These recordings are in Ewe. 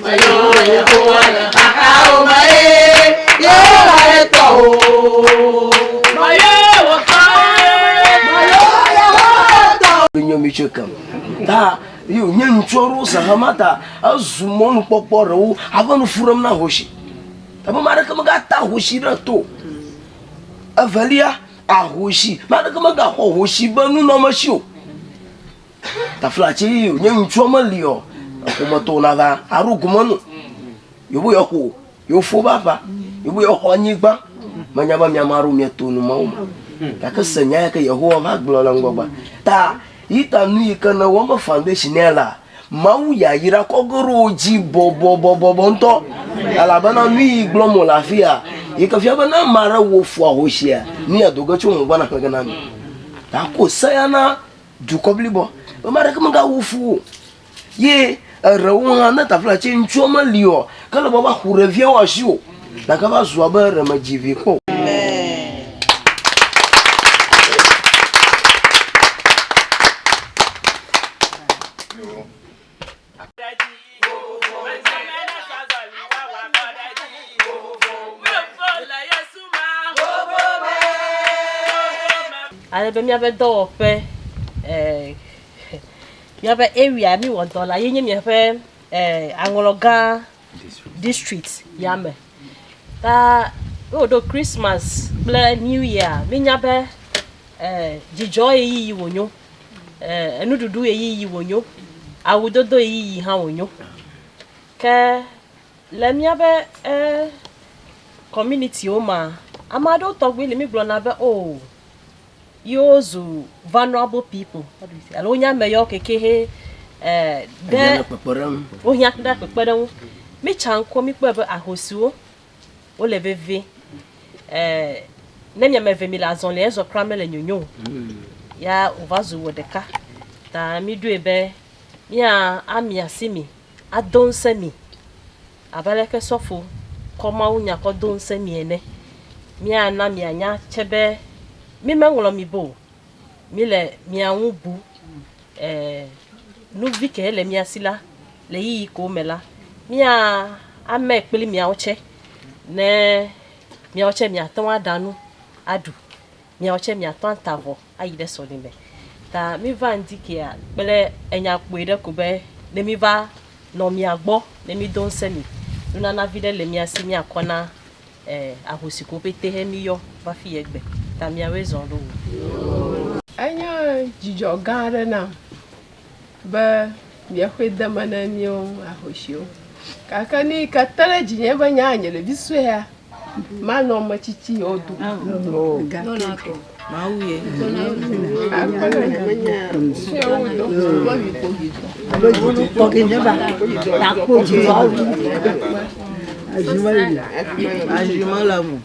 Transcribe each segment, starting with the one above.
Meyɔ Yehowa le xaxawo me eye Yehowa ɖe tɔ o. Meyɔ wò tɔ eye meyɔ Yehowa tɔ o. Menye mi tse kem. Ta yi wònye ŋutsu aɖewo zã hã ma ta ezu mɔnukpɔkpɔ aɖewo ava nu fu ɖem na ahosi. Ebe ame aɖeke megata ahosi ɖe to o. Evelia, ahosi, ame aɖeke megaxɔ ahosi be nunɔamesi o. Tafla tse yi nye ŋutsua meli o, eƒometɔwo nava aɖo gome nu. Yewo yɔ xo, yewo fo va va, yewo yɔ xɔ anyigba. Menya be miame aɖewo mieto nu mawo me. Gake se nya yake Yehowa va gblɔ le ŋgɔgbe. Ta yi ta nu yi ke nèwɔ be foundation ya la, Mawu yayra kɔ ge ɖe wò dzi bɔbɔbɔbɔbɔ ŋutɔ. Elabena nu yi gblɔm wòle afi ya, yi ke fia be ne ame aɖe wɔ fo ahosia, nu ya do ge tso ŋgɔgbe naxlẽ ge na mi. Ta ko se ya na Dukɔ blibo ƒe mea ɖeke mega wu fu o ye erewo hã ne tafla tse ŋutsua me li ɔ ke le bɔ va xu ɖe via wa si o na ke va zua be re me dzi vi kpɔ o. Ale be míaƒe dɔwɔƒe, eh, míaƒe area mi wɔ dɔ la ye nye míaƒe eh, aŋlɔgã district ya me. Ta ne wòɖo Christmas kple New Year, míenya be eh, dzidzɔ ɣeyiɣi wònyo. enuɖuɖu ɣeyiɣi wònyo, awudodo ɣeyiɣi hã wònyo. Ke le míaƒe kɔminitiwo mea, ame aɖewo tɔgbi li mígblɔna be o yewo zu valuable pipo alo wonye ame yawo keke he wohiã kpekpeɖeŋu. Míetsa ŋkɔ míkpɔe be ahosiwo wole vevie. Eh, ne mi ame eve mi le azɔli ezɔ kura mele nyonyo o. Hmm. Ya wova zu wɔ ɖeka. Ta mi ɖoe be mia ami asi mi, ado ŋusẽ mi. Abe aleke sɔfo kɔ Mawu nya kɔ do ŋusẽ mi ene. Mia na mia nya tse be mi me ŋlɔ mi bo. Mi le mia ŋu bu. Eh, nuvi ke le mia si la, Le yiyi ko me la, mía ame kpli miawo tsɛ, ne miawo tsɛ miatɔ ŋu aɖa nu aɖu, miawo tsɛ miatɔ ŋu ata avɔ ayi ɖe sɔlime. Ta mi va ŋdi kea kple enya kpui ɖe ko be ne mi va nɔ mia gbɔ ne mi do ŋsɛ mi. Nunana viɖe le mia si mia kɔ na ahosi ko pɛtɛ he mi yɔ va fi yɛ gbe. Ta miawoe zɔn ɖo o. Enye dzidzɔ gã aɖe nam be miaxɔe de eme ne míwo ahosiwo. Gake nuyi ke te ɖe dzinye be nye nye ɖevi suea, manɔ ame tsitsi yewo dome o. Gake.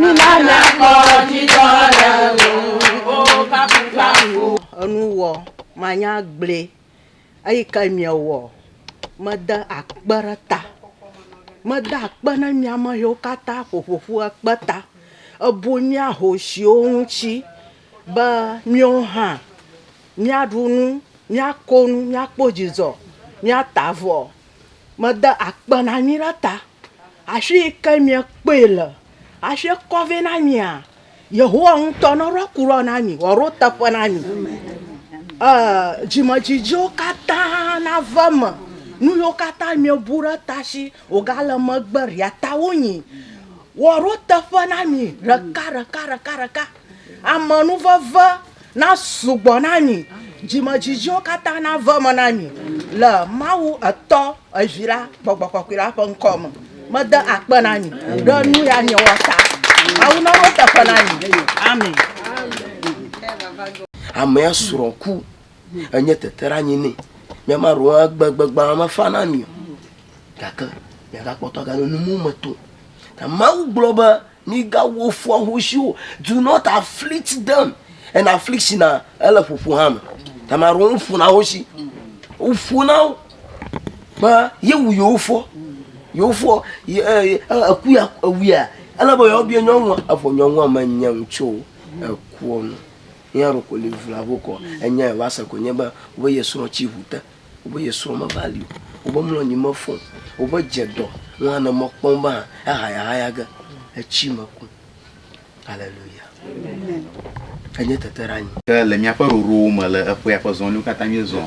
Mina míakpɔ dzidzɔ le ŋuwò, O kafukafu. Enu wɔ manya gblɔe, eyi ke miewɔ mede akpe ɖe ta. Meda akpe ne mia me xewo katã ƒoƒo ƒu ekpe ta, ebu mia hoshiwo ŋuti be miwo hã miaɖu nu, miako nu, miakpɔ dzidzɔ, miata avɔ. Meda akpe na mi ɖe ta. Afi yi ke miekpɔe le hafi kɔ vɛ na mia, Yehowa ŋutɔ neɖo aku ɖɔ na mi, wòaɖo teƒe na mi. Ee, dzimedzidziwo katã nava eme. Nu yiwo katã miebu ɖe ta si wògale megbe ɖia, tawonyi. Wòaɖo teƒe na mi ɖeka, ɖeka, ɖeka, ɖeka. Amenuveve nasugbɔ na mi, dzimedzidziwo katã nave eme na mi le Mawu Etɔ, Evi la, Gbɔgbɔ Kɔkɔe la ƒe ŋkɔ me. Mede akpe na mi ɖe nu ya miewɔ ta. Mawu naɖo eteƒe na mi. Amen. Amea srɔ̃ ku. Enye teteɖeanyi nɛ. Mía maɖewo hã gbe gbegbãa mefa na mi o. Gake miagakpɔtɔ agale nu me tom. Ta Mawu gblɔ be Migawɔ fu ahosi o. Do not afflict them. And affliction na ele ƒoƒo hã me. Ame aɖewo woƒona ahosi. Woƒona wo be yewu yewo fɔ. Yewo fɔ ye e eku ya ewuia ele be yewoabia nyɔnua evɔ nyɔnua menye nu tso ekua nu. Eya ɖeko li vla vo kɔ. Enya ye va se ko nye be wo ye srɔ̃ tsi ŋu te. Wobe ye srɔ̃ meva li o, wobe mlɔ anyi mefɔ o, wobe dze dɔ ŋu hã ne mekpɔ ŋu be hã ehayahaya ge etsi meku. Aleluya. Enye teteɖeanyi. Ke le míaƒe ɖoɖowo me le eƒea ƒe zɔliwo katã míezɔ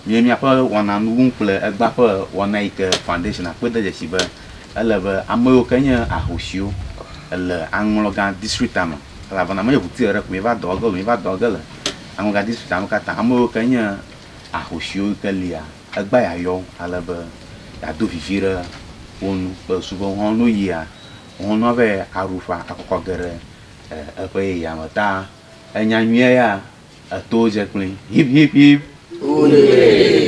nye míaƒe wɔna nuwum kple egbea ƒe wɔna yi ke Foundation kpe de dzesi be ele be ame yiwo ke nye ahosiwo le aŋlɔgã distrikta me elabena menye ŋuti ɖeɖe ko míeva dɔ ge o, míeva dɔ ge le aŋlɔgã distrikta me katã, ame yiwo ke nye ahosiwo yi ke lia, egbea yayɔ wo ale be yeado vivi ɖe wo ŋu kple susu be woawo ne woyia, woawo hã ava yi aɖu ƒã akɔ ge ɖe eƒe yeyea me. Ta enya nyuie ya, etowo dze kpli. Hip, hip, hip! Hooray!